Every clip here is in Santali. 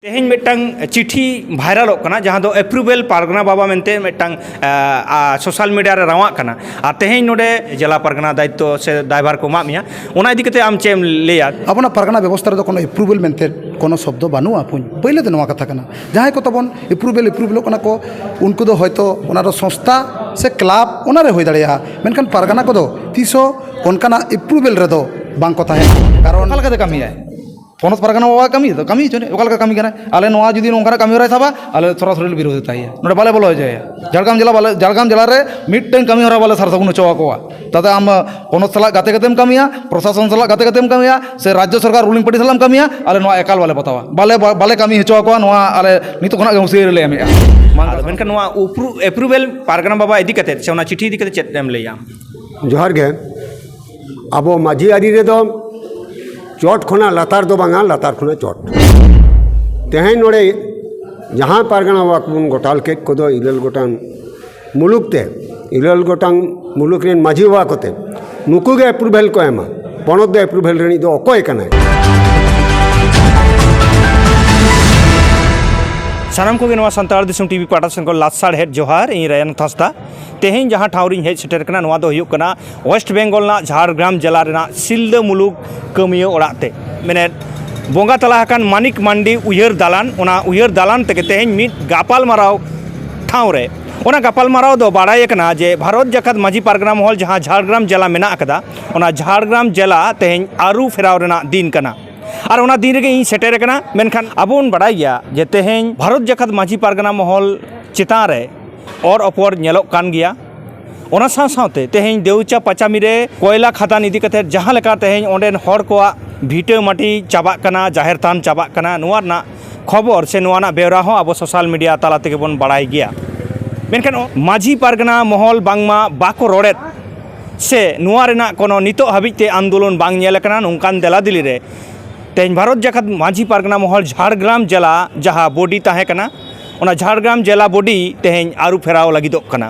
ᱛᱮᱦᱮᱧ ᱢᱤᱫᱴᱟᱝ ᱪᱤᱴᱷᱤ ᱵᱷᱟᱭᱨᱟᱞᱚᱜ ᱠᱟᱱᱟ ᱡᱟᱦᱟᱸ ᱫᱚ ᱮᱯᱨᱩᱵᱷᱮᱞ ᱯᱟᱨᱜᱟᱱᱟ ᱵᱟᱵᱟ ᱢᱮᱱᱛᱮ ᱢᱤᱫᱴᱟᱝ ᱥᱳᱥᱟᱞ ᱢᱤᱰᱤᱭᱟ ᱨᱮ ᱨᱟᱣᱟᱜ ᱠᱟᱱᱟ ᱟᱨ ᱛᱮᱦᱮᱧ ᱱᱚᱰᱮ ᱡᱮᱞᱟ ᱯᱟᱨᱜᱟᱱᱟ ᱫᱟᱭᱤᱛᱛᱚ ᱥᱮ ᱫᱟᱭᱵᱷᱟᱨ ᱠᱚ ᱮᱢᱟᱜ ᱢᱮᱭᱟ ᱚᱱᱟ ᱤᱫᱤ ᱠᱟᱛᱮ ᱟᱢ ᱪᱮᱫ ᱮᱢ ᱞᱟᱹᱭᱟ ᱟᱵᱚᱱᱟᱜ ᱯᱟᱨᱜᱟᱱᱟ ᱵᱮᱵᱚᱥᱛᱷᱟ ᱨᱮᱫᱚ ᱠᱳᱱᱳ ᱮᱯᱨᱩᱵᱷᱮᱞ ᱢᱮᱱᱛᱮ ᱠᱳᱱᱳ ᱥᱚᱵᱫᱚ ᱵᱟᱹᱱᱩᱜᱼᱟ ᱯᱳᱭᱞᱳ ᱫᱚ ᱱᱚᱣᱟ ᱠᱟᱛᱷᱟ ᱠᱟᱱᱟ ᱡᱟᱦᱟᱸᱭ ᱠᱚ ᱛᱟᱵᱚᱱ ᱮᱯᱨᱩᱵᱷᱮᱞ ᱮᱯᱨᱩᱵᱷᱮᱞᱚᱜ ᱠᱟᱱᱟ ᱠᱚ ᱩᱱᱠᱩ ᱫᱚ ᱦᱚᱭᱛᱳ ᱚᱱᱟ ᱫᱚ ᱥᱚᱝᱥᱛᱷᱟ ᱥᱮ ᱠᱞᱟᱵᱽ ᱚᱱᱟ ᱨᱮ ᱦᱩᱭ ᱫᱟᱲᱮᱭᱟᱜᱼᱟ ᱢᱮᱱᱠᱷᱟᱱ ᱯᱟᱨᱜᱟᱱᱟ ᱠᱚᱫᱚ ᱛᱤᱥ ᱦᱚᱸ ᱚᱱᱠᱟᱱᱟᱜ ᱮᱯᱨᱩᱵᱷᱮᱞ ᱨᱮᱫᱚ ᱵᱟᱝ ᱠᱚ ᱛᱟᱦᱮᱱᱟ ᱠᱟᱨᱚᱱ ᱚᱠᱟ ᱞᱮᱠᱟᱛᱮ ᱠᱟᱹᱢᱤᱭᱟᱭ ᱯᱚᱱᱚᱛ ᱯᱟᱨᱜᱟᱱᱟ ᱵᱟᱵᱟᱣᱟᱜ ᱠᱟᱹᱢᱤ ᱛᱚ ᱠᱟᱹᱢᱤ ᱦᱚᱪᱚᱱᱤᱡ ᱚᱠᱟ ᱞᱮᱠᱟ ᱠᱟᱹᱢᱤ ᱠᱟᱱᱟᱭ ᱟᱞᱮ ᱱᱚᱣᱟ ᱡᱩᱫᱤ ᱱᱚᱝᱠᱟᱱᱟᱜ ᱠᱟᱹᱢᱤ ᱦᱚᱨᱟᱭ ᱥᱟᱵᱟ ᱟᱞᱮ ᱥᱚᱨᱟᱥᱚᱨᱤ ᱞᱮ ᱵᱤᱨᱳᱫᱷᱤᱛᱟᱭᱟ ᱱᱚᱰᱮ ᱵᱟᱞᱮ ᱵᱚᱞᱚ ᱦᱚᱪᱚᱣᱟᱭᱟ ᱡᱷᱟᱲᱜᱨᱟᱢ ᱡᱮᱞᱟ ᱵᱟᱞᱮ ᱡᱷᱟᱲᱜᱨᱟᱢ ᱡᱮᱞᱟ ᱨᱮ ᱢᱤᱫᱴᱟᱹᱝ ᱠᱟᱹᱢᱤ ᱦᱚᱨᱟ ᱵᱟᱞᱮ ᱥᱟᱨ ᱥᱟᱹᱜᱩᱱ ᱦᱚᱪᱚ ᱟᱠᱚᱣᱟ ᱛᱟᱛᱮ ᱟᱢ ᱯᱚᱱᱚᱛ ᱥᱟᱞᱟᱜ ᱜᱟᱛᱮ ᱠᱟᱛᱮᱢ ᱠᱟᱹᱢᱤᱭᱟ ᱯᱨᱚᱥᱟᱥᱚᱱ ᱥᱟᱞᱟᱜ ᱜᱟᱛᱮ ᱠᱟᱛᱮᱢ ᱠᱟᱹᱢᱤᱭᱟ ᱥᱮ ᱨᱟᱡᱽᱡᱚ ᱥᱚᱨᱠᱟᱨ ᱨᱩᱞᱤᱝ ᱯᱟᱨᱴᱤ ᱥᱟᱞᱟᱜ ᱮᱢ ᱠᱟᱹᱢᱤᱭᱟ ᱟᱞᱮ ᱱᱚᱣᱟ ᱮᱠᱟᱞ ᱵᱟᱞᱮ ᱵᱟᱛᱟᱣᱟ ᱵᱟᱞᱮ ᱵᱟᱞᱮ ᱠᱟᱹᱢᱤ ᱦᱚᱪᱚ ᱟᱠᱚᱣᱟ ᱱᱚᱣᱟ ᱟᱞᱮ ᱱᱤᱛᱚᱜ ᱠᱷᱚᱱᱟᱜ ᱜᱮ ᱦᱩᱥᱭᱟᱹᱨᱤ ᱞᱮ ᱮᱢᱮᱫᱼᱟ ᱟᱫᱚ ᱢᱮᱱᱠᱷᱟᱱ ᱱᱚᱣᱟ ᱩᱯᱨᱩ ᱮᱯᱨᱩᱵᱷᱮᱞ ᱯᱟᱨᱜᱟᱱᱟ ᱵᱟᱵᱟ ᱤᱫᱤ ᱠᱟᱛᱮᱫ ᱥᱮ ᱚᱱᱟ ᱪᱤᱴᱷᱤ ᱤᱫᱤ ᱠᱟᱛᱮᱫ ᱪᱮᱫ ᱮᱢ ᱞᱟᱹᱭᱟ ᱡᱚᱦᱟᱨ ᱜᱮ ᱟᱵᱚ ᱢᱟᱹᱡᱷᱤ ᱟᱹᱨᱤ ᱨᱮᱫᱚ ᱪᱚᱴ ᱠᱷᱚᱱᱟᱜ ᱞᱟᱛᱟᱨ ᱫᱚ ᱵᱟᱝᱟ ᱞᱟᱛᱟᱨ ᱠᱷᱚᱱᱟᱜ ᱪᱚᱴ ᱛᱮᱦᱮᱧ ᱱᱚᱰᱮ ᱡᱟᱦᱟᱸ ᱯᱟᱨᱜᱟᱱᱟ ᱵᱟᱵᱟ ᱠᱚᱵᱚᱱ ᱜᱚᱴᱟᱞ ᱠᱮᱫ ᱠᱚᱫᱚ ᱤᱨᱟᱹᱞ ᱜᱚᱴᱟᱝ ᱢᱩᱞᱩᱠ ᱛᱮ ᱤᱨᱟᱹᱞ ᱜᱚᱴᱟᱝ ᱢᱩᱞᱩᱠ ᱨᱮᱱ ᱢᱟᱹᱡᱷᱤ ᱵᱟᱵᱟ ᱠᱚᱛᱮ ᱱᱩᱠᱩ ᱜᱮ ᱮᱯᱨᱩᱵᱷᱮᱞ ᱠᱚ ᱮᱢᱟ ᱯᱚᱱᱚᱛ ᱫᱚ ᱮᱯᱨᱩᱵᱷᱮᱞ ᱨᱤᱱᱤᱡ ᱫᱚ ᱚᱠᱚᱭ ᱠᱟᱱᱟᱭ ᱥᱟᱱᱟᱢ ᱠᱚᱜᱮ ᱱᱚᱣᱟ ᱥᱟᱱᱛᱟᱲ ᱫᱤᱥᱚᱢ ᱴᱤᱵᱷᱤ ᱯᱟᱦᱴᱟ ᱥᱮᱱ ᱠᱷᱚᱱ ᱞᱟᱥᱟᱲᱦᱮᱫ ᱡᱚᱦᱟᱨ ᱤᱧ ᱨᱟᱭᱟᱱ ᱦᱟᱸᱥᱫᱟ ᱛᱮᱦᱮᱧ ᱡᱟᱦᱟᱸ ᱴᱷᱟᱶ ᱨᱤᱧ ᱦᱮᱡ ᱥᱮᱴᱮᱨ ᱠᱟᱱᱟ ᱱᱚᱣᱟ ᱫᱚ ᱦᱩᱭᱩᱜ ᱠᱟᱱᱟ ᱳᱭᱮᱥᱴ ᱵᱮᱝᱜᱚᱞ ᱨᱮᱱᱟᱜ ᱡᱷᱟᱲᱜᱨᱟᱢ ᱡᱮᱞᱟ ᱨᱮᱱᱟᱜ ᱥᱤᱞᱫᱟᱹ ᱢᱩᱞᱩᱠ ᱠᱟᱹᱢᱤᱭᱟᱹ ᱚᱲᱟᱜ ᱛᱮ ᱢᱮᱱᱮᱫ ᱵᱚᱸᱜᱟ ᱛᱟᱞᱟ ᱟᱠᱟᱱ ᱢᱟᱱᱤᱠ ᱢᱟᱱᱰᱤ ᱩᱭᱦᱟᱹᱨ ᱫᱟᱞᱟᱱ ᱚᱱᱟ ᱩᱭᱦᱟᱹᱨ ᱫᱟᱞᱟᱱ ᱛᱮᱜᱮ ᱛᱮᱦᱮᱧ ᱢᱤᱫ ᱜᱟᱯᱟᱞ ᱢᱟᱨᱟᱣ ᱴᱷᱟᱶ ᱨᱮ ᱚᱱᱟ ᱜᱟᱯᱟᱞ ᱢᱟᱨᱟᱣ ᱫᱚ ᱵᱟᱲᱟᱭ ᱟᱠᱟᱱᱟ ᱡᱮ ᱵᱷᱟᱨᱚᱛ ᱡᱟᱠᱟᱛ ᱢᱟᱹᱡᱷᱤ ᱯᱟᱨᱜᱟᱱᱟ ᱢᱚᱦᱚᱞ ᱡᱟᱦᱟᱸ ᱡᱷᱟᱲᱜᱨᱟᱢ ᱡᱮᱞᱟ ᱢᱮᱱᱟᱜ ᱟᱠᱟᱫᱟ ᱚᱱᱟ ᱡᱷᱟᱲᱜᱨᱟᱢ ᱡᱮᱞᱟ ᱛᱮᱦᱮᱧ ᱟᱹᱨᱩ ᱯᱷᱮᱨᱟᱣ ᱨᱮᱱᱟᱜ ᱫᱤᱱ ᱠᱟᱱᱟ ᱟᱨ ᱚᱱᱟ ᱫᱤᱱ ᱨᱮᱜᱮ ᱤᱧ ᱥᱮᱴᱮᱨ ᱟᱠᱟᱱᱟ ᱢᱮᱱᱠᱷᱟᱱ ᱟᱵᱚ ᱵᱚᱱ ᱵᱟᱲᱟᱭ ᱜᱮᱭᱟ ᱡᱮ ᱛᱮᱦᱮᱧ ᱵᱷᱟᱨᱚᱛ ᱡᱟᱠᱟᱛ ᱢᱟᱹᱡᱷᱤ ᱯᱟᱨᱜᱟᱱᱟ ᱢᱚᱦᱚᱞ ᱪᱮᱛᱟᱱ ᱨᱮ ᱚᱨ ᱚᱯᱚᱨ ᱧᱮᱞᱚᱜ ᱠᱟᱱ ᱜᱮᱭᱟ ᱚᱱᱟ ᱥᱟᱶ ᱥᱟᱶᱛᱮ ᱛᱮᱦᱮᱧ ᱫᱮᱣᱪᱟ ᱯᱟᱪᱟᱢᱤ ᱨᱮ ᱠᱚᱭᱞᱟ ᱠᱷᱟᱫᱟᱱ ᱤᱫᱤ ᱠᱟᱛᱮ ᱡᱟᱦᱟᱸ ᱞᱮᱠᱟ ᱛᱮᱦᱮᱧ ᱚᱸᱰᱮᱱ ᱦᱚᱲ ᱠᱚᱣᱟᱜ ᱵᱷᱤᱴᱟᱹ ᱢᱟᱹᱴᱤ ᱪᱟᱵᱟᱜ ᱠᱟᱱᱟ ᱡᱟᱦᱮᱨ ᱛᱷᱟᱱ ᱪᱟᱵᱟᱜ ᱠᱟᱱᱟ ᱱᱚᱣᱟ ᱨᱮᱱᱟᱜ ᱠᱷᱚᱵᱚᱨ ᱥᱮ ᱱᱚᱣᱟ ᱨᱮᱱᱟᱜ ᱵᱮᱣᱨᱟ ᱦᱚᱸ ᱟᱵᱚ ᱥᱳᱥᱟᱞ ᱢᱤᱰᱤᱭᱟ ᱛᱟᱞᱟ ᱛᱮᱜᱮ ᱵᱚᱱ ᱵᱟᱲᱟᱭ ᱜᱮᱭᱟ ᱢᱮᱱᱠᱷᱟᱱ ᱢᱟᱹᱡᱷᱤ ᱯᱟᱨᱜᱟᱱᱟ ᱢᱚᱦᱚᱞ ᱵᱟᱝᱢᱟ ᱵᱟᱠᱚ ᱨᱚᱲᱮᱫ ᱥᱮ ᱱᱚᱣᱟ ᱨᱮᱱᱟᱜ ᱠᱳᱱᱳ ᱱᱤᱛᱚᱜ ᱦᱟᱹᱵᱤᱡ ᱛᱮ ᱟᱱᱫᱳᱞᱚᱱ ᱵᱟᱝ ᱧᱮᱞ ᱟᱠᱟᱱᱟ ᱱᱚᱝᱠᱟᱱ ᱫᱮᱞᱟ ᱫᱮᱞᱤ ᱨᱮ ᱛᱮᱦᱮᱧ ᱵᱷᱟᱨᱚᱛ ᱡᱟᱠᱟᱛ ᱢᱟᱹᱡᱷᱤ ᱯᱟᱨᱜᱟᱱᱟ ᱢᱚᱦᱚᱞ ᱡᱷᱟᱲᱜᱨᱟᱢ ᱡᱮᱞᱟ ᱡᱟᱦᱟᱸ ᱵᱚᱰᱤ ᱛᱟᱦᱮᱸ ᱠᱟᱱᱟ ᱚᱱᱟ ᱡᱷᱟᱲᱜᱨᱟᱢ ᱡᱮᱞᱟ ᱵᱚᱰᱤ ᱛᱮᱦᱮᱧ ᱟᱹᱨᱩ ᱯᱷᱮᱨᱟᱣ ᱞᱟᱹᱜᱤᱫᱚᱜ ᱠᱟᱱᱟ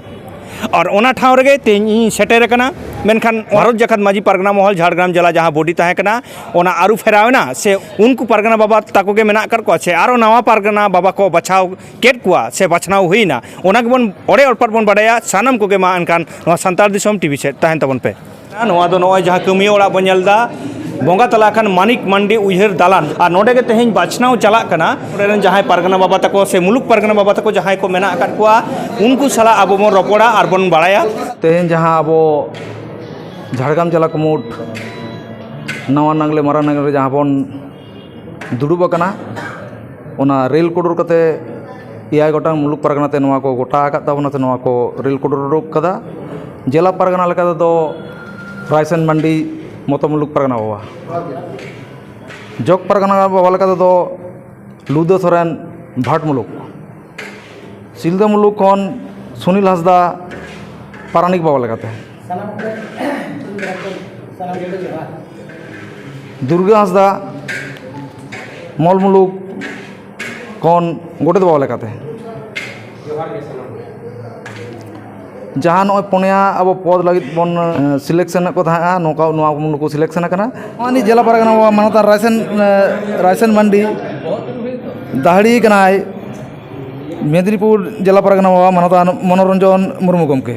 ᱟᱨ ᱚᱱᱟ ᱴᱷᱟᱶ ᱨᱮᱜᱮ ᱛᱮᱦᱮᱧ ᱤᱧ ᱥᱮᱴᱮᱨ ᱟᱠᱟᱱᱟ ᱢᱮᱱᱠᱷᱟᱱ ᱵᱷᱟᱨᱚᱛ ᱡᱟᱠᱟᱛ ᱢᱟᱹᱡᱷᱤ ᱯᱟᱨᱜᱟᱱᱟ ᱢᱚᱦᱚᱞ ᱡᱷᱟᱲᱜᱨᱟᱢ ᱡᱮᱞᱟ ᱡᱟᱦᱟᱸ ᱵᱚᱰᱤ ᱛᱟᱦᱮᱸ ᱠᱟᱱᱟ ᱚᱱᱟ ᱟᱹᱨᱩ ᱯᱷᱮᱨᱟᱣ ᱮᱱᱟ ᱥᱮ ᱩᱱᱠᱩ ᱯᱟᱨᱜᱟᱱᱟ ᱵᱟᱵᱟ ᱛᱟᱠᱚ ᱜᱮ ᱢᱮᱱᱟᱜ ᱟᱠᱟᱫ ᱠᱚᱣᱟ ᱥᱮ ᱟᱨᱚ ᱱᱟᱣᱟ ᱯᱟᱨᱜᱟᱱᱟ ᱵᱟᱵᱟ ᱠᱚ ᱵᱟᱪᱷᱟᱣ ᱠᱮᱫ ᱠᱚᱣᱟ ᱥᱮ ᱵᱟᱪᱷᱱᱟᱣ ᱦᱩᱭᱱᱟ ᱚᱱᱟ ᱜᱮᱵᱚᱱ ᱚᱲᱮ ᱚᱲᱯᱟᱫ ᱵᱚᱱ ᱵᱟᱰᱟᱭᱟ ᱥᱟᱱᱟᱢ ᱠᱚᱜᱮ ᱢᱟ ᱮᱱᱠᱷᱟᱱ ᱱᱚᱣᱟ ᱥᱟᱱᱛᱟᱲ ᱫᱤᱥᱚᱢ ᱴᱤᱵᱷᱤ ᱥᱮᱫ ᱛᱟᱦᱮᱱ ᱛᱟᱵᱚᱱ ᱯᱮ ᱱᱚᱣᱟ ᱫᱚ ᱱᱚᱜᱼᱚᱭ ᱡᱟᱦᱟᱸ ᱠᱟᱹᱢᱤᱭᱟᱹ ᱚᱲᱟᱜ ᱵᱚᱱ ᱧᱮᱞ ᱮᱫᱟ ᱵᱚᱸᱜᱟ ᱛᱟᱞᱟ ᱟᱠᱟᱱ ᱢᱟᱱᱤᱠ ᱢᱟᱱᱰᱤ ᱩᱭᱦᱟᱹᱨ ᱫᱟᱞᱟᱱ ᱟᱨ ᱱᱚᱰᱮ ᱜᱮ ᱛᱮᱦᱮᱧ ᱵᱟᱪᱷᱱᱟᱣ ᱪᱟᱞᱟᱜ ᱠᱟᱱᱟ ᱱᱚᱰᱮ ᱨᱮᱱ ᱡᱟᱦᱟᱸᱭ ᱯᱟᱨᱜᱟᱱᱟ ᱵᱟᱵᱟ ᱛᱟᱠᱚ ᱥᱮ ᱢᱩᱞᱩᱠ ᱯᱟᱨᱜᱟᱱᱟ ᱵᱟᱵᱟ ᱛᱟᱠᱚ ᱡᱟᱦᱟᱸᱭ ᱠᱚ ᱢᱮᱱᱟᱜ ᱟᱠᱟᱫ ᱠᱚᱣᱟ ᱩᱱᱠᱩ ᱥᱟᱞᱟᱜ ᱟᱵᱚ ᱵᱚᱱ ᱨᱚᱯᱚᱲᱟ ᱟᱨ ᱵᱚᱱ ᱵᱟᱲᱟᱭᱟ ᱛᱮᱦᱮᱧ ᱡᱟᱦᱟᱸ ᱟᱵᱚ ᱡᱷᱟᱲᱜᱨᱟᱢ ᱡᱮᱞᱟ ᱠᱩᱢᱩᱴ ᱱᱟᱣᱟ ᱱᱟᱜᱽᱞᱮ ᱢᱟᱨᱟᱝ ᱱᱟᱜᱽᱞᱮ ᱨᱮ ᱡᱟᱦᱟᱸ ᱵᱚᱱ ᱫᱩᱲᱩᱵ ᱟᱠᱟᱱᱟ ᱚᱱᱟ ᱨᱮᱹᱞ ᱠᱚᱰᱚᱨ ᱠᱟᱛᱮᱫ ᱮᱭᱟᱭ ᱜᱚᱴᱟᱝ ᱢᱩᱞᱩᱠ ᱯᱟᱨᱜᱟᱱᱟ ᱛᱮ ᱱᱚᱣᱟ ᱠᱚ ᱜᱚᱴᱟ ᱟᱠᱟᱫ ᱛᱟᱵᱚᱱᱟ ᱥᱮ ᱱᱚᱣᱟ ᱠᱚ ᱨᱮᱹᱞ ᱠᱚᱰᱚᱨ ᱩᱰᱩᱠ ᱠᱟᱫᱟ ᱡᱮᱞᱟ ᱯᱟᱨᱜᱟᱱᱟ ᱞᱮᱠᱟ ᱛᱮᱫᱚ ᱨᱟᱭᱥᱟᱱ ᱢᱟᱱᱰᱤ ᱢᱚᱛᱚ ᱢᱩᱞᱩᱠ ᱯᱟᱨᱜᱟᱱᱟ ᱵᱟᱵᱟ ᱡᱚᱜᱽ ᱯᱟᱨᱜᱟᱱᱟ ᱵᱟᱵᱟ ᱞᱮᱠᱟ ᱛᱮᱫᱚ ᱞᱩᱫᱟᱹ ᱥᱚᱨᱮᱱ ᱵᱷᱟᱴ ᱢᱩᱞᱩᱠ ᱥᱤᱞᱫᱟᱹ ᱢᱩᱞᱩᱠ ᱠᱷᱚᱱ ᱥᱩᱱᱤᱞ ᱦᱟᱸᱥᱫᱟ ᱯᱟᱨᱟᱱᱤᱠ ᱵᱟᱵᱟ ᱞᱮᱠᱟᱛᱮ ᱫᱩᱨᱜᱟᱹ ᱦᱟᱸᱥᱫᱟ ᱢᱚᱞ ᱢᱩᱞᱩᱠ ᱠᱷᱚᱱ ᱜᱚᱰᱮᱛ ᱵᱟᱵᱟ ᱞᱮᱠᱟᱛᱮ ᱡᱟᱦᱟᱸ ᱱᱚᱜᱼᱚᱭ ᱯᱩᱱᱭᱟ ᱟᱵᱚ ᱯᱚᱫᱽ ᱞᱟᱹᱜᱤᱫ ᱵᱚᱱ ᱥᱤᱞᱮᱠᱥᱮᱱ ᱮᱫ ᱠᱚ ᱛᱟᱦᱮᱸᱫᱼᱟ ᱱᱚᱝᱠᱟ ᱱᱚᱣᱟ ᱠᱚ ᱱᱩᱠᱩ ᱥᱤᱞᱮᱠᱥᱮᱱ ᱟᱠᱟᱱᱟ ᱱᱚᱜᱼᱚᱭ ᱱᱤᱛ ᱡᱮᱞᱟ ᱯᱟᱨᱜᱟᱱᱟ ᱵᱟᱵᱟ ᱢᱟᱱᱚᱛᱟᱱ ᱨᱟᱭᱥᱮᱱ ᱨᱟᱭᱥᱮᱱ ᱢᱟᱱᱰᱤ ᱫᱟᱹᱦᱲᱤ ᱠᱟᱱᱟᱭ ᱢᱮᱫᱽᱱᱤᱯᱩᱨ ᱡᱮᱞᱟ ᱯᱟᱨᱜᱟᱱᱟ ᱵᱟᱵᱟ ᱢᱟᱱᱚᱛᱟᱱ ᱢᱚᱱᱳᱨᱚᱧᱡᱚᱱ ᱢᱩᱨᱢᱩ ᱜᱚᱢᱠᱮ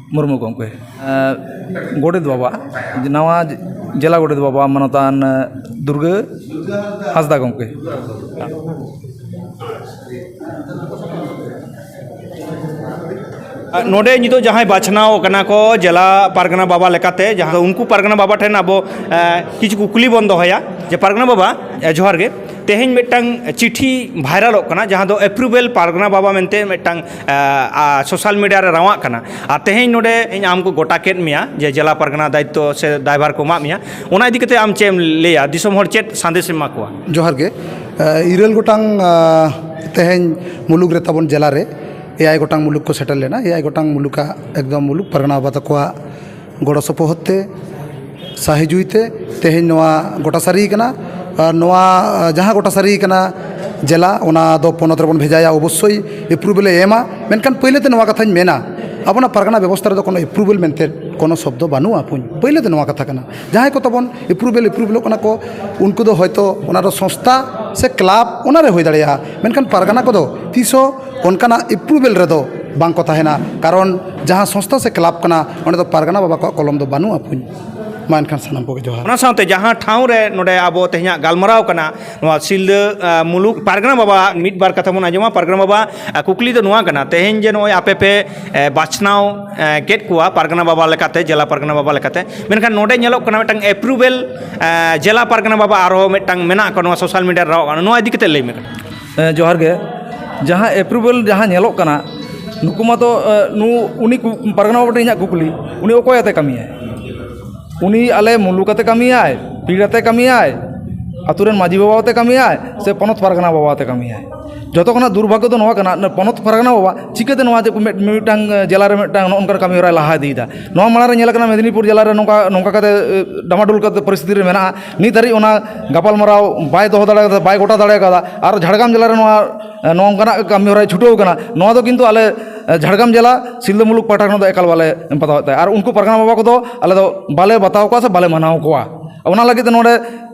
ᱢᱩᱨᱢᱩ ᱜᱚᱢᱠᱮ ᱜᱳᱰᱮᱛ ᱵᱟᱵᱟ ᱱᱟᱣᱟ ᱡᱮᱞᱟ ᱜᱳᱰᱮᱛ ᱵᱟᱵᱟ ᱢᱟᱱᱚᱛᱟᱱ ᱫᱩᱨᱜᱟᱹ ᱦᱟᱸᱥᱫᱟ ᱜᱚᱢᱠᱮ ᱱᱚᱰᱮ ᱱᱤᱛᱚᱜ ᱡᱟᱦᱟᱸᱭ ᱵᱟᱪᱷᱱᱟᱣ ᱠᱟᱱᱟ ᱠᱚ ᱡᱮᱞᱟ ᱯᱟᱨᱜᱟᱱᱟ ᱵᱟᱵᱟ ᱞᱮᱠᱟᱛᱮ ᱡᱟᱦᱟᱸ ᱫᱚ ᱩᱱᱠᱩ ᱯᱟᱨᱜᱟᱱᱟ ᱵᱟᱵᱟ ᱴᱷᱮᱱ ᱟᱵᱚ ᱠᱤᱪᱷᱩ ᱠᱩᱠᱞᱤ ᱵᱚᱱ ᱫᱚᱦᱚᱭᱟ ᱡᱮ ᱯᱟᱨᱜᱟᱱᱟ ᱵᱟᱵᱟ ᱡᱚᱦᱟᱨ ᱜᱮ ᱛᱮᱦᱮᱧ ᱢᱤᱫᱴᱟᱱ ᱪᱤᱴᱷᱤ ᱵᱷᱟᱭᱨᱟᱞᱚᱜ ᱠᱟᱱᱟ ᱡᱟᱦᱟᱸ ᱫᱚ ᱮᱯᱨᱩᱵᱷᱮᱞ ᱯᱟᱨᱜᱟᱱᱟ ᱵᱟᱵᱟ ᱢᱮᱱᱛᱮ ᱢᱤᱫᱴᱟᱱ ᱥᱳᱥᱟᱞ ᱢᱤᱰᱤᱭᱟ ᱨᱮ ᱨᱟᱶᱟᱜ ᱠᱟᱱᱟ ᱟᱨ ᱛᱮᱦᱮᱧ ᱱᱚᱰᱮ ᱤᱧ ᱟᱢ ᱠᱚ ᱜᱚᱴᱟ ᱠᱮᱫ ᱢᱮᱭᱟ ᱡᱮ ᱡᱮᱞᱟ ᱯᱟᱨᱜᱟᱱᱟ ᱫᱟᱭᱤᱛᱛᱚ ᱥᱮ ᱫᱟᱭᱵᱷᱟᱨ ᱠᱚ ᱮᱢᱟᱜ ᱢᱮᱭᱟ ᱚᱱᱟ ᱤᱫᱤ ᱠᱟᱛᱮᱫ ᱟᱢ ᱪᱮᱫ ᱮᱢ ᱞᱟᱹᱭᱟ ᱫᱤᱥᱚᱢ ᱦᱚᱲ ᱪᱮᱫ ᱥᱟᱸᱫᱮᱥ ᱮᱢ ᱮᱢᱟ ᱠᱚᱣᱟ ᱡᱚᱦᱟᱨ ᱜᱮ ᱤᱨᱟᱹᱞ ᱜᱚᱴᱟᱝ ᱛᱮᱦᱮᱧ ᱢᱩᱞᱩᱠ ᱨᱮ ᱛᱟᱵᱚᱱ ᱡᱮᱞᱟ ᱨᱮ ᱮᱭᱟᱭ ᱜᱚᱴᱟᱝ ᱢᱩᱞᱩᱠ ᱠᱚ ᱥᱮᱴᱮᱨ ᱞᱮᱱᱟ ᱮᱭᱟᱭ ᱜᱚᱴᱟᱝ ᱢᱩᱞᱩᱠᱟᱜ ᱮᱠᱫᱚᱢ ᱢᱩᱞᱩᱠ ᱯᱟᱨᱜᱟᱱᱟ ᱵᱟᱵᱟ ᱛᱟᱠᱚᱣᱟᱜ ᱜᱚᱲᱚ ᱥᱚᱯᱚᱦᱚᱫ ᱛᱮ ᱥᱟᱹᱦᱤ ᱡᱩᱦᱤ ᱛᱮ ᱛᱮᱦᱮᱧ ᱱᱚᱣᱟ ᱜᱚᱴᱟ ᱥᱟᱹᱨᱤ ᱠᱟᱱᱟ ᱟᱨ ᱱᱚᱣᱟ ᱡᱟᱦᱟᱸ ᱜᱚᱴᱟ ᱥᱟᱹᱨᱤ ᱠᱟᱱᱟ ᱡᱮᱞᱟ ᱚᱱᱟ ᱫᱚ ᱯᱚᱱᱚᱛ ᱨᱮᱵᱚᱱ ᱵᱷᱮᱡᱟᱭᱟ ᱚᱵᱚᱥᱥᱳᱭ ᱮᱯᱨᱩᱵᱷᱮᱞ ᱮ ᱮᱢᱟ ᱢᱮᱱᱠᱷᱟᱱ ᱯᱳᱭᱞᱳ ᱛᱮ ᱱᱚᱣᱟ ᱠᱟᱛᱷᱟᱧ ᱢᱮᱱᱟ ᱟᱵᱚᱱᱟᱜ ᱯᱟᱨᱜᱟᱱᱟ ᱵᱮᱵᱚᱥᱛᱷᱟ ᱨᱮᱫᱚ ᱠᱳᱱᱳ ᱮᱯᱨᱩᱵᱷᱮᱞ ᱢᱮᱱᱛᱮ ᱠᱳᱱᱳ ᱥᱚᱵᱫᱚ ᱵᱟᱹᱱᱩᱜᱼᱟ ᱯᱳᱭᱞᱳ ᱫᱚ ᱱᱚᱣᱟ ᱠᱟᱛᱷᱟ ᱠᱟᱱᱟ ᱡᱟᱦᱟᱸᱭ ᱠᱚ ᱛᱟᱵᱚᱱ ᱮᱯᱨᱩᱵᱷᱮᱞ ᱮᱯᱨᱩᱵᱷᱮᱞᱚᱜ ᱠᱟᱱᱟ ᱠᱚ ᱩᱱᱠᱩ ᱫᱚ ᱦᱚᱭᱛᱳ ᱚᱱᱟ ᱫᱚ ᱥᱚᱝᱥᱛᱷᱟ ᱥᱮ ᱠᱞᱟᱵᱽ ᱚᱱᱟᱨᱮ ᱦᱩᱭ ᱫᱟᱲᱮᱭᱟᱜᱼᱟ ᱢᱮᱱᱠᱷᱟᱱ ᱯᱟᱨᱜᱟᱱᱟ ᱠᱚᱫᱚ ᱛᱤᱥ ᱦᱚᱸ ᱚᱱᱠᱟᱱᱟᱜ ᱮᱯᱨᱩᱵᱷᱮᱞ ᱨᱮᱫᱚ ᱵᱟᱝ ᱠᱚ ᱛᱟᱦᱮᱱᱟ ᱠᱟᱨᱚᱱ ᱡᱟᱦᱟᱸ ᱥᱚᱝᱥᱛᱷᱟ ᱥᱮ ᱠᱞᱟᱵᱽ ᱠᱟᱱᱟ ᱚᱸᱰᱮ ᱫᱚ ᱯᱟᱨᱜᱟᱱᱟ ᱵᱟᱵᱟ ᱠᱚᱣᱟᱜ ᱠᱚᱞᱚᱢ ᱫᱚ ᱵᱟᱹᱱᱩᱜᱼᱟ ᱵᱚᱠᱚᱧ ᱢᱟ ᱮᱱᱠᱷᱟᱱ ᱥᱟᱱᱟᱢ ᱠᱚᱜᱮ ᱡᱚᱦᱟᱨ ᱚᱱᱟ ᱥᱟᱶᱛᱮ ᱡᱟᱦᱟᱸ ᱴᱷᱟᱶ ᱨᱮ ᱱᱚᱰᱮ ᱟᱵᱚ ᱛᱮᱦᱮᱧᱟᱜ ᱜᱟᱞᱢᱟᱨᱟᱣ ᱠᱟᱱᱟ ᱱᱚᱣᱟ ᱥᱤᱞᱫᱟᱹ ᱟᱸ, ᱢᱩᱞᱩᱠ ᱯᱟᱨᱜᱟᱱᱟ ᱵᱟᱵᱟ ᱢᱤᱫ ᱵᱟᱨ ᱠᱟᱛᱷᱟ ᱵᱚᱱ ᱟᱸᱡᱚᱢᱟ ᱯᱟᱨᱜᱟᱱᱟ ᱵᱟᱵᱟ ᱟᱸ, ᱠᱩᱠᱞᱤ ᱫᱚ ᱱᱚᱣᱟ ᱠᱟᱱᱟ ᱛᱮᱦᱮᱧ ᱡᱮ ᱱᱚᱜᱼᱚᱭ ᱟᱯᱮ ᱯᱮ ᱮᱸ, ᱵᱟᱪᱷᱱᱟᱣ ᱮᱸ, ᱠᱮᱫ ᱠᱚᱣᱟ ᱯᱟᱨᱜᱟᱱᱟ ᱵᱟᱵᱟ ᱞᱮᱠᱟᱛᱮ ᱡᱮᱞᱟ ᱯᱟᱨᱜᱟᱱᱟ ᱵᱟᱵᱟ ᱞᱮᱠᱟᱛᱮ ᱢᱮᱱᱠᱷᱟᱱ ᱱᱚᱰᱮ ᱧᱮᱞᱚᱜ ᱠᱟᱱᱟ ᱢᱤᱫᱴᱟᱝ ᱮᱯᱨᱩᱵᱷᱮᱞ ᱡᱮᱞᱟ ᱯᱟᱨᱜᱟᱱᱟ ᱵᱟᱵᱟ ᱟᱨᱦᱚᱸ ᱢᱤᱫᱴᱟᱝ ᱢᱮᱱᱟᱜ ᱠᱚᱣᱟ ᱱᱚᱣᱟ ᱥᱳᱥᱟᱞ ᱢᱤᱰᱤᱭᱟ ᱨᱮ ᱨᱟᱣᱟᱜ ᱠᱟᱱᱟ ᱱᱚᱣᱟ ᱤᱫᱤ ᱠᱟᱛᱮ ᱞᱟᱹᱭ ᱢᱮ ᱦᱮᱸ ᱡᱚᱦᱟᱨ ᱜᱮ ᱡᱟᱦᱟᱸ ᱮᱯᱨᱩᱵᱷᱮᱞ ᱡᱟᱦᱟᱸ ᱧᱮᱞᱚᱜ ᱠᱟᱱᱟ ᱱᱩᱠᱩ ᱢᱟᱛᱚ ᱱᱩ ᱩᱱᱤ ᱠᱩ ᱯᱟᱨᱜᱟᱱᱟ ᱵᱟᱵᱟ ᱴᱷᱮᱱ ᱤᱧᱟᱹᱜ ᱠᱩᱠᱞᱤ ᱩᱱᱤ ᱚᱠᱚᱭ ᱟᱛᱮᱫ ᱠᱟᱹᱢᱤᱭᱟᱭ ᱩᱱᱤ ᱟᱞᱮ ᱢᱩᱞᱩᱠ ᱟᱛᱮᱫ ᱠᱟᱹᱢᱤᱭᱟᱭ ᱯᱤᱲ ᱟᱛᱮᱫ ᱠᱟᱹᱢᱤᱭᱟᱭ ᱟᱹᱛᱩ ᱨᱮᱱ ᱢᱟᱹᱡᱷᱤ ᱵᱟᱵᱟ ᱟᱛᱮᱫ ᱠᱟᱹᱢᱤᱭᱟᱭ ᱥᱮ ᱯᱚᱱᱚᱛ ᱯᱟᱨᱜᱟᱱᱟ ᱵᱟᱵᱟ ᱟᱛᱮᱫ ᱠᱟᱹᱢᱤᱭᱟᱭ ᱡᱚᱛᱚ ᱠᱷᱚᱱᱟᱜ ᱫᱩᱨᱵᱷᱟᱜᱽᱜᱚ ᱫᱚ ᱱᱚᱣᱟ ᱠᱟᱱᱟ ᱱᱩᱭ ᱯᱚᱱᱚᱛ ᱯᱟᱨᱜᱟᱱᱟ ᱵᱟᱵᱟ ᱪᱤᱠᱟᱹᱛᱮ ᱱᱚᱣᱟ ᱡᱮ ᱢᱤᱫ ᱢᱤᱫᱴᱟᱝ ᱡᱮᱞᱟ ᱨᱮ ᱢᱤᱫᱴᱟᱝ ᱱᱚᱜᱼᱚ ᱱᱚᱝᱠᱟᱱ ᱠᱟᱹᱢᱤ ᱦᱚᱨᱟᱭ ᱞᱟᱦᱟ ᱤᱫᱤᱭᱮᱫᱟ ᱱᱚᱣᱟ ᱢᱟᱲᱟᱝ ᱨᱮ ᱧᱮᱞᱟᱠᱟᱱᱟ ᱢᱮᱫᱽᱱᱤᱯᱩᱨ ᱡᱮᱞᱟ ᱨᱮ ᱱᱚᱝᱠᱟ ᱱᱚᱝᱠᱟ ᱠᱟᱛᱮᱫ ᱰᱟᱢᱟᱰᱳᱞ ᱠᱟᱛᱮᱫ ᱯᱚᱨᱤᱥᱛᱷᱤᱛᱤ ᱨᱮ ᱢᱮᱱᱟᱜᱼᱟ ᱱᱤᱛ ᱫᱷᱟᱹᱨᱤᱡ ᱚᱱᱟ ᱜᱟᱯᱟᱞᱢᱟᱨᱟᱣ ᱵᱟᱭ ᱫᱚᱦᱚ ᱫᱟᱲᱮ ᱠᱟᱫᱟ ᱵᱟᱭ ᱜᱚᱴᱟ ᱫᱟᱲᱮ ᱠᱟᱫᱟ ᱟᱨ ᱡᱷᱟᱲᱜᱨᱟᱢ ᱡᱮᱞᱟᱨᱮ ᱱᱚᱣᱟ ᱱᱚᱝᱠᱟᱱᱟᱜ ᱠᱟᱹᱢᱤ ᱦᱚᱨᱟᱭ ᱪᱷᱩᱴᱟᱹᱣ ᱠᱟᱱᱟ ᱱᱚᱣᱟ ᱫᱚ ᱠᱤᱱᱛᱩ ᱟᱞᱮ ᱡᱷᱟᱲᱜᱨᱟᱢ ᱡᱮᱞᱟ ᱥᱤᱞᱫᱟᱹ ᱢᱩᱞᱩᱠ ᱯᱟᱦᱴᱟ ᱠᱷᱚᱱᱟᱜ ᱫᱚ ᱮᱠᱟᱞ ᱵᱟᱞᱮ ᱵᱟᱛᱟᱣᱮᱫ ᱛᱟᱦᱮᱸᱜ ᱟᱨ ᱩᱱᱠᱩ ᱯᱟᱨᱜᱟᱱᱟ ᱵᱟᱵᱟ ᱠᱚᱫᱚ ᱟᱞᱮ ᱫᱚ ᱵᱟᱞᱮ ᱵᱟᱛᱟᱣ ᱠᱚᱣᱟ ᱥᱮ ᱵᱟᱞᱮ ᱢᱟᱱᱟᱣ ᱠᱚᱣᱟ ᱚᱱᱟ ᱞᱟᱹᱜᱤᱫ ᱛᱮ ᱱᱚᱰᱮ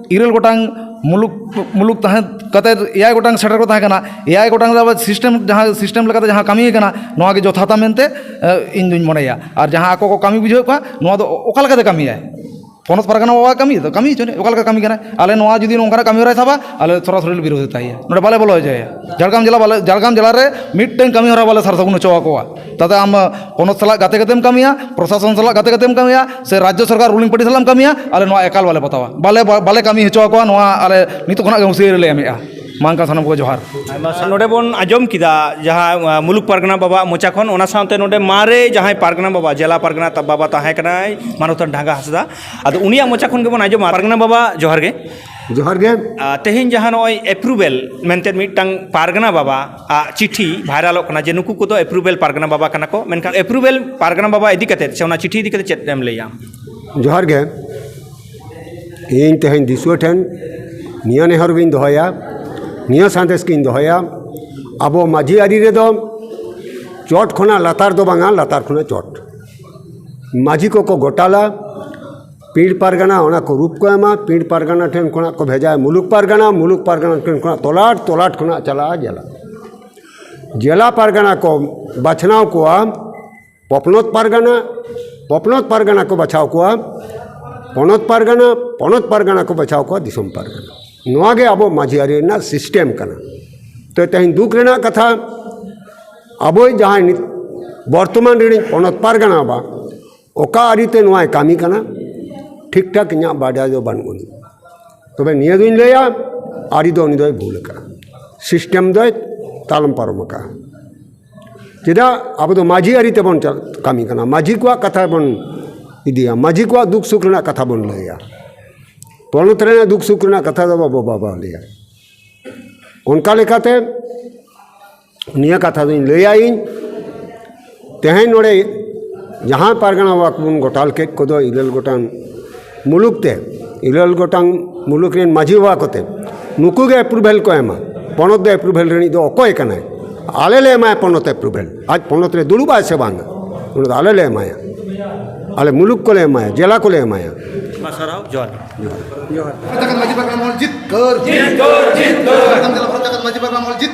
ᱤᱨᱟᱹᱞ ᱜᱚᱴᱟᱝ ᱢᱩᱞᱩᱠ ᱢᱩᱞᱩᱠ ᱛᱟᱦᱮᱸ ᱠᱟᱛᱮ ᱮᱭᱟᱭ ᱜᱚᱴᱟᱝ ᱥᱮᱴᱮᱨ ᱠᱚ ᱛᱟᱦᱮᱸ ᱠᱟᱱᱟ ᱮᱭᱟᱭ ᱜᱚᱴᱟᱝ ᱫᱚ ᱟᱵᱟᱨ ᱥᱤᱥᱴᱮᱢ ᱡᱟᱦᱟᱸ ᱥᱤᱥᱴᱮᱢ ᱞᱮᱠᱟᱛᱮ ᱡᱟᱦᱟᱸ ᱠᱟᱹᱢᱤ ᱠᱟᱱᱟ ᱱᱚᱣᱟᱜᱮ ᱡᱚᱛᱷᱟᱛᱟ ᱢᱮᱱᱛᱮ ᱤᱧᱫᱩᱧ ᱢᱚᱱᱮᱭᱟ ᱟᱨ ᱡᱟᱦᱟᱸ ᱟᱠᱚ ᱠᱚ ᱠᱟᱹᱢᱤ ᱵᱩᱡᱷᱟᱹᱣᱮᱫ ᱠᱚᱣᱟ ᱱᱚᱣᱟ ᱫᱚ ᱚᱠᱟ ᱞᱮᱠᱟᱛᱮ ᱠᱟᱹᱢᱤᱭᱟᱭ ᱯᱚᱱᱚᱛ ᱯᱟᱨᱜᱟᱱᱟ ᱵᱟᱵᱟᱣᱟᱜ ᱠᱟᱹᱢᱤ ᱛᱚ ᱠᱟᱹᱢᱤ ᱦᱚᱪᱚᱱᱤᱡ ᱚᱠᱟ ᱞᱮᱠᱟᱭ ᱠᱟᱹᱢᱤ ᱠᱟᱱᱟᱭ ᱟᱞᱮ ᱱᱚᱣᱟ ᱡᱩᱫᱤ ᱱᱚᱝᱠᱟᱱᱟᱜ ᱠᱟᱹᱢᱤ ᱦᱚᱨᱟᱭ ᱥᱟᱵᱟ ᱟᱞᱮ ᱥᱚᱨᱟᱥᱚᱨᱤ ᱞᱮ ᱵᱤᱨᱳᱫᱷ ᱛᱟᱭᱟ ᱱᱚᱰᱮ ᱵᱟᱞᱮ ᱵᱚᱞᱚ ᱦᱚᱪᱚᱣᱟᱭᱟ ᱡᱷᱟᱲᱜᱨᱟᱢ ᱡᱮᱞᱟ ᱵᱟᱞᱮ ᱡᱷᱟᱲᱜᱨᱟᱢ ᱡᱮᱞᱟ ᱨᱮ ᱢᱤᱫᱴᱟᱹᱝ ᱠᱟᱹᱢᱤ ᱦᱚᱨᱟ ᱵᱟᱞᱮ ᱥᱟᱨ ᱥᱟᱹᱜᱩᱱ ᱦᱚᱪᱚ ᱟᱠᱚᱣᱟ ᱛᱟᱛᱮ ᱟᱢ ᱯᱚᱱᱚᱛ ᱥᱟᱞᱟᱜ ᱜᱟᱛᱮ ᱠᱟᱛᱮᱢ ᱠᱟᱹᱢᱤᱭᱟ ᱯᱨᱚᱥᱟᱥᱚᱱ ᱥᱟᱞᱟᱜ ᱜᱟᱛᱮ ᱠᱟᱛᱮᱢ ᱠᱟᱹᱢᱤᱭᱟ ᱥᱮ ᱨᱟᱡᱽᱡᱚ ᱥᱚᱨᱠᱟᱨ ᱨᱩᱞᱤᱝ ᱯᱟᱨᱴᱤ ᱥᱟᱞᱟᱜ ᱮᱢ ᱠᱟᱹᱢᱤᱭᱟ ᱟᱞᱮ ᱱᱚᱣᱟ ᱮᱠᱟᱞ ᱵᱟᱞᱮ ᱯᱚᱛᱟᱣᱟ ᱵᱟᱞᱮ ᱵᱟᱞᱮ ᱠᱟᱹᱢᱤ ᱦᱚᱪᱚ ᱟᱠᱚᱣᱟ ᱱᱚᱣᱟ ᱟᱞᱮ ᱱᱤᱛᱚᱜ ᱠᱷᱚᱱᱟᱜ ᱜᱮ ᱦᱩᱸᱥᱤᱭᱟᱹᱨᱤ ᱞᱮ ᱮᱢᱮᱫᱼᱟ ᱢᱟᱱᱠᱟ ᱥᱟᱱᱟᱢ ᱠᱚ ᱡᱚᱦᱟᱨ ᱱᱚᱰᱮ ᱵᱚᱱ ᱟᱸᱡᱚᱢ ᱠᱮᱫᱟ ᱡᱟᱦᱟᱸ ᱢᱩᱞᱩᱠ ᱯᱟᱨᱜᱟᱱᱟ ᱵᱟᱵᱟᱣᱟᱜ ᱢᱚᱪᱟ ᱠᱷᱚᱱ ᱚᱱᱟ ᱥᱟᱶᱛᱮ ᱱᱚᱰᱮ ᱢᱟᱨᱮ ᱡᱟᱦᱟᱸᱭ ᱯᱟᱨᱜᱟᱱᱟ ᱵᱟᱵᱟ ᱡᱮᱞᱟ ᱯᱟᱨᱜᱟᱱᱟ ᱵᱟᱵᱟ ᱛᱟᱦᱮᱸ ᱠᱟᱱᱟᱭ ᱢᱟᱱᱚᱛᱟᱱ ᱰᱷᱟᱸᱜᱟ ᱦᱟᱸᱥᱫᱟ ᱟᱫᱚ ᱩᱱᱤᱭᱟᱜ ᱢᱚᱪᱟ ᱠᱷᱚᱱ ᱜᱮᱵᱚᱱ ᱟᱸᱡᱚᱢᱟ ᱯᱟᱨᱜᱟᱱᱟ ᱵᱟᱵᱟ ᱡᱚᱦᱟᱨ ᱜᱮ ᱡᱚᱦᱟᱨ ᱜᱮ ᱛᱮᱦᱮᱧ ᱡᱟᱦᱟᱸ ᱱᱚᱜᱼᱚᱭ ᱮᱯᱨᱩᱵᱷᱮᱞ ᱢᱮᱱᱛᱮ ᱢᱤᱫᱴᱟᱝ ᱯᱟᱨᱜᱟᱱᱟ ᱵᱟᱵᱟ ᱟᱜ ᱪᱤᱴᱷᱤ ᱵᱷᱟᱭᱨᱟᱞᱚᱜ ᱠᱟᱱᱟ ᱡᱮ ᱱᱩᱠᱩ ᱠᱚᱫᱚ ᱮᱯᱨᱩᱵᱷᱮᱞ ᱯᱟᱨᱜᱟᱱᱟ ᱵᱟᱵᱟ ᱠᱟᱱᱟ ᱠᱚ ᱢᱮᱱᱠᱷᱟᱱ ᱮᱯᱨᱩᱵᱷᱮᱞ ᱯᱟᱨᱜᱟᱱᱟ ᱵᱟᱵᱟ ᱤᱫᱤ ᱠᱟᱛᱮ ᱥᱮ ᱚᱱᱟ ᱪᱤᱴᱷᱤ ᱤᱫᱤ ᱠᱟᱛᱮ ᱪᱮᱫ ᱮᱢ ᱞᱟᱹᱭᱟ ᱡᱚᱦᱟᱨ ᱜᱮ ᱤᱧ ᱛᱮᱦᱮᱧ ᱫᱤᱥᱩᱣᱟᱹ ᱴᱷᱮᱱ ᱱᱤᱭᱟᱹ ᱱᱮᱦᱚᱨ ᱜᱤᱧ ᱫᱚᱦᱚᱭᱟ ᱱᱤᱭᱟᱹ ᱥᱟᱸᱫᱮᱥ ᱜᱤᱧ ᱫᱚᱦᱚᱭᱟ ᱟᱵᱚ ᱢᱟᱹᱡᱷᱤ ᱟᱹᱨᱤ ᱨᱮᱫᱚ ᱪᱚᱴ ᱠᱷᱚᱱᱟᱜ ᱞᱟᱛᱟᱨ ᱫᱚ ᱵᱟᱝᱟ ᱞᱟᱛᱟᱨ ᱠᱷᱚᱱᱟᱜ ᱪᱚᱴ ᱢᱟᱹᱡᱷᱤ ᱠᱚᱠᱚ ᱜᱚᱴᱟᱞᱟ ᱯᱤᱲ ᱯᱟᱨᱜᱟᱱᱟ ᱚᱱᱟ ᱠᱚ ᱨᱩᱯ ᱠᱚ ᱮᱢᱟ ᱯᱤᱲ ᱯᱟᱨᱜᱟᱱᱟ ᱴᱷᱮᱱ ᱠᱷᱚᱱᱟᱜ ᱠᱚ ᱵᱷᱮᱡᱟᱭᱟ ᱢᱩᱞᱩᱠ ᱯᱟᱨᱜᱟᱱᱟ ᱢᱩᱞᱩᱠ ᱯᱟᱨᱜᱟᱱᱟ ᱴᱷᱮᱱ ᱠᱷᱚᱱᱟᱜ ᱛᱚᱞᱟᱴ ᱛᱚᱞᱟᱴ ᱠᱷᱚᱱᱟᱜ ᱪᱟᱞᱟᱜᱼᱟ ᱡᱮᱞᱟ ᱡᱮᱞᱟ ᱯᱟᱨᱜᱟᱱᱟ ᱠᱚ ᱵᱟᱪᱷᱱᱟᱣ ᱠᱚᱣᱟ ᱯᱚᱱᱚᱛ ᱯᱟᱨᱜᱟᱱᱟ ᱯᱚᱱᱚᱛ ᱯᱟᱨᱜᱟᱱᱟ ᱠᱚ ᱵᱟᱪᱷᱟᱣ ᱠᱚᱣᱟ ᱯᱚᱱᱚᱛ ᱯᱟᱨᱜᱟᱱᱟ ᱯᱚᱱᱚᱛ ᱯᱟᱨᱜᱟᱱᱟ ᱠᱚ ᱵᱟᱪᱷᱟᱣ ᱠᱚᱣᱟ ᱫᱤᱥᱚᱢ ᱯᱟᱨᱜᱟᱱᱟ ᱱᱚᱣᱟ ᱜᱮ ᱟᱵᱚ ᱢᱟᱹᱡᱷᱤ ᱟᱹᱨᱤ ᱨᱮᱱᱟᱜ ᱥᱤᱥᱴᱮᱢ ᱠᱟᱱᱟ ᱛᱚ ᱛᱮᱦᱮᱧ ᱫᱩᱠ ᱨᱮᱱᱟᱜ ᱠᱟᱛᱷᱟ ᱟᱵᱚᱭ ᱡᱟᱦᱟᱸᱭ ᱵᱚᱨᱛᱚᱢᱟᱱ ᱨᱤᱱᱤᱡ ᱯᱚᱱᱚᱛ ᱯᱟᱨᱜᱟᱱᱟ ᱵᱟ ᱚᱠᱟ ᱟᱹᱨᱤᱛᱮ ᱱᱚᱣᱟᱭ ᱠᱟᱹᱢᱤ ᱠᱟᱱᱟ ᱴᱷᱤᱠ ᱴᱷᱟᱠ ᱤᱧᱟᱹᱜ ᱵᱟᱰᱟᱭ ᱫᱚ ᱵᱟᱹᱱᱩᱜ ᱟᱹᱱᱤᱡ ᱛᱚᱵᱮ ᱱᱤᱭᱟᱹ ᱫᱩᱧ ᱞᱟᱹᱭᱟ ᱟᱹᱨᱤ ᱫᱚ ᱩᱱᱤ ᱫᱚᱭ ᱵᱷᱩᱞ ᱟᱠᱟᱫᱼᱟ ᱥᱤᱥᱴᱮᱢ ᱫᱚᱭ ᱛᱟᱞᱚᱢ ᱯᱟᱨᱚᱢ ᱟᱠᱟᱫᱼᱟ ᱪᱮᱫᱟᱜ ᱟᱵᱚ ᱫᱚ ᱢᱟᱹᱡᱷᱤ ᱟᱹᱨᱤ ᱛᱮᱵᱚᱱ ᱠᱟᱹᱢᱤ ᱠᱟᱱᱟ ᱢᱟᱹᱡᱷᱤ ᱠᱚᱣᱟᱜ ᱠᱟᱛᱷᱟ ᱵᱚᱱ ᱤᱫᱤᱭᱟ ᱢᱟᱹᱡᱷᱤ ᱠᱚᱣᱟᱜ ᱫᱩᱠ ᱥᱩᱠ ᱨᱮᱱᱟᱜ ᱠᱟᱛᱷᱟ ᱵᱚᱱ ᱞᱟᱹᱭᱟ ᱯᱚᱱᱚᱛ ᱨᱮᱱᱟᱜ ᱫᱩᱠ ᱥᱩᱠ ᱨᱮᱱᱟᱜ ᱠᱟᱛᱷᱟ ᱫᱚ ᱵᱟᱵᱚ ᱵᱟᱵᱚ ᱞᱟᱹᱭᱟ ᱚᱱᱠᱟ ᱞᱮᱠᱟᱛᱮ ᱱᱤᱭᱟᱹ ᱠᱟᱛᱷᱟ ᱫᱚᱧ ᱞᱟᱹᱭᱟ ᱤᱧ ᱛᱮᱦᱮᱧ ᱱᱚᱰᱮ ᱡᱟᱦᱟᱸ ᱯᱟᱨᱜᱟᱱᱟ ᱵᱟᱠᱷᱳᱞ ᱵᱚᱱ ᱜᱚᱴᱟ ᱠᱮᱫ ᱠᱚᱫᱚ ᱤᱨᱟᱹᱞ ᱜᱚᱴᱟᱝ ᱢᱩᱞᱩᱠ ᱛᱮ ᱤᱨᱟᱹᱞ ᱜᱚᱴᱟᱝ ᱢᱩᱞᱩᱠ ᱨᱮᱱ ᱢᱟᱹᱡᱷᱤ ᱵᱟᱵᱟ ᱠᱚᱛᱮ ᱱᱩᱠᱩ ᱜᱮ ᱮᱯᱨᱩᱵᱷᱮᱞ ᱠᱚ ᱮᱢᱟ ᱯᱚᱱᱚᱛ ᱫᱚ ᱮᱯᱨᱩᱵᱷᱮᱞ ᱨᱤᱱᱤᱡ ᱫᱚ ᱚᱠᱚᱭ ᱠᱟᱱᱟᱭ ᱟᱞᱮ ᱞᱮ ᱮᱢᱟᱭᱟ ᱯᱚᱱᱚᱛ ᱮᱯᱨᱩᱵᱷᱮᱞ ᱟᱡ ᱯᱚᱱᱚᱛ ᱨᱮ ᱫᱩᱲᱩᱵ ᱟᱭ ᱥᱮ ᱵᱟᱝᱟ ᱩᱱᱤ ᱫᱚ ᱟᱞᱮ ᱞᱮ ᱮᱢᱟᱭᱟ ᱟᱞᱮ ᱢᱩᱞᱩᱠ ᱠᱚᱞᱮ ᱮᱢᱟᱭᱟ ᱡᱮᱞᱟ ᱠᱚᱞᱮ ᱮᱢᱟᱭᱟ ᱢᱟ ᱥᱟᱨᱦᱟᱣ ᱡᱚᱦᱟᱨ ᱡᱚᱦᱟᱨ ᱡᱟᱠᱟᱛ ᱢᱟᱹᱡᱷᱤ ᱵᱟᱵᱟ ᱢᱚᱞ ᱡᱤᱛ ᱠᱟᱹᱨ ᱡᱤᱛ ᱠᱟᱹᱨ ᱡᱤᱛ ᱠᱟᱹᱨ ᱡᱟᱠᱟᱛ ᱢᱟᱹᱡᱷᱤ ᱵᱟᱵᱟ ᱢᱚᱞ ᱡᱤᱛ